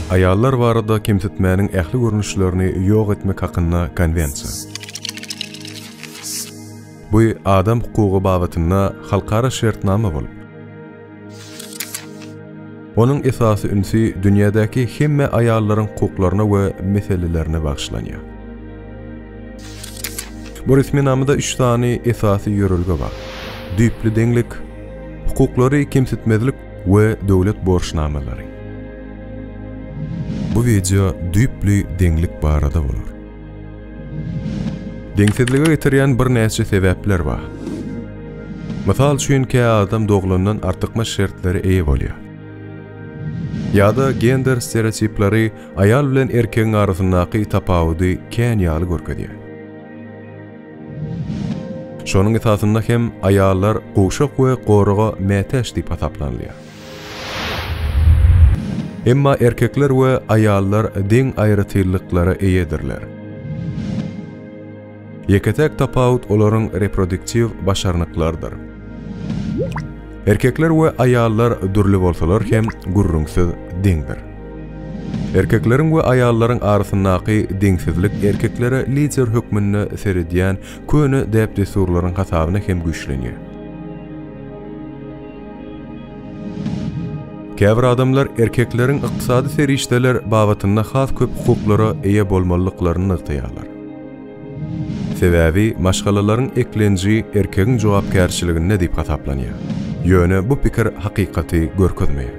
Aýallar barada kemsitmäniň ähli görnüşlerini ýok etmek hakynda konwensiýa. Bu adam hukugy babatynda halkara şertnama bolup, Onuň esasy ünsi dünýädäki hemme aýallaryň hukuklaryna we meselelerine bagyşlanýar. Bu resminamada üç sany esasy ýörelge bar, düýpli deňlik, hukuklary kemsitmezlik we döwlet borçnamalary. Bu wideo düýpli deňlik barada bolar. Deňsizlige getirýän birnäçe sebäpler bar. Mysal üçin, kä adam doglandan artykmaç şertlere eýe bolýar. Ýa-da gender stereotipleri aýal bilen erkegiň arasyndaky tapawudy kän ýaly görkezýär. Şonuň esasynda hem aýallar gowşak we goraga mätäç diýip hasaplanylýar. Emma erkekler we aýallar deň aýratynlyklara eýedirler. Ýeke-täk tapawut olaryň reproduktiw başarnyklarydyr. Erkekler we aýallar dürli bolsalar hem, gürrüňsiz, deňdir. Erkekleriň we aýallaryň arasyndaky deňsizlik erkeklere lider hökmünde seredýän köne däp-dessurlaryň hasabyna hem güýçlenýär. Käbir adamlar erkekleriň ykdysady serişdeler babatynda has köp hukuklara eýe bolmalydyklaryny nygtaýarlar. Sebäbi maşgalalaryň eklenji erkegiň jogapkärçiliginde diýip hasaplanýar. Ýöne bu pikir hakykaty görkezmeýär.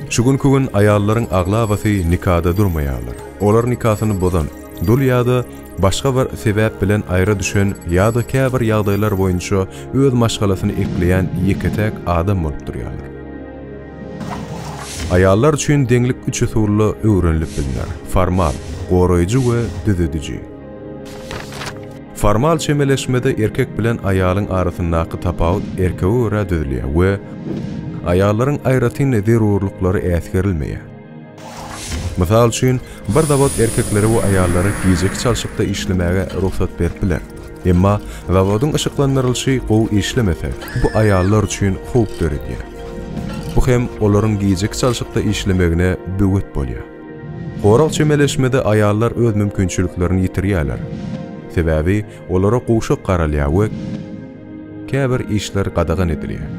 Şu günki gün aýallaryň aglabasy nikada durmaýarlar. Olar nikasyny bozan, dul ýa-da başga bir sebäp bilen aýra düşen ýa-da käbir ýagdaýlar boýunça öz maşgalasyny ekleýän ýeke-täk adam bolup durýar. Aýallar üçin deňlik üç usulda öwrenilip bilner, formal, goraýjy we düzediji. Formal çemeleşmede erkek bilen aýalyň arasyndaky tapawut erkege görä düzülýär we aýallaryň aýratyn zerurlyklary äsgerilmeýär. Mysal üçin, bir zawod erkeklere we aýallara gijeki çalşykda işlemäge rugsat berip biler. Emma zawodyň yşyklandyrylyşy gowy işlemese, bu aýallar üçin howp döredýär. Bu hem olaryň gijeki çalşykda işlemegine böwet bolýar. Gorag çemeleşmede aýallar öz mümkinçiliklerini ýitirýärler. Sebäbi olara gowşak garalýar we. Käbir işler gadagan edilýär.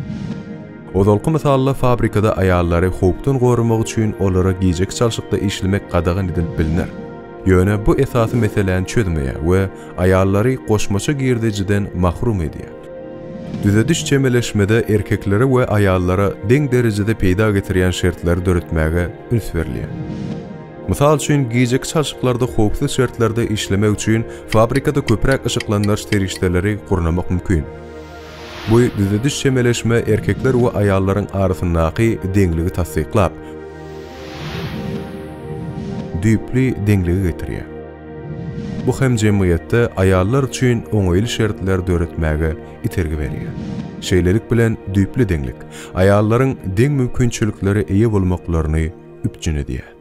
Ozalky mysalda fabrikada aýallary howpdan goramak üçin olara gijeki çalşykda işlemek gadagan edilip bilner. Ýöne bu esasy meseläni çözmeýär we aýallary goşmaça girdejiden mahrum edýär. Düzediş çemeleşmede erkeklere we aýallara deň derejede peýda getirýän şertleri döretmäge üns berilýär. Mysal üçin, gijeki çalşyklarda howpsuz şertlerde işlemek üçin fabrikada köpräk yşyklandyryş serişdeleri gurnamak mümkin. Bu düzediş çemeleşme erkekler we aýallaryň arasyndaky deňligi tassyklap, düýpli deňlige getirýär. Bu hem jemgyýetde aýallar üçin oňaýly şertler döretmäge itergi berýär. Şeýlelik bilen düýpli deňlik, aýallaryň deň mümkinçiliklere eýe bolmaklaryny üpjün edýär.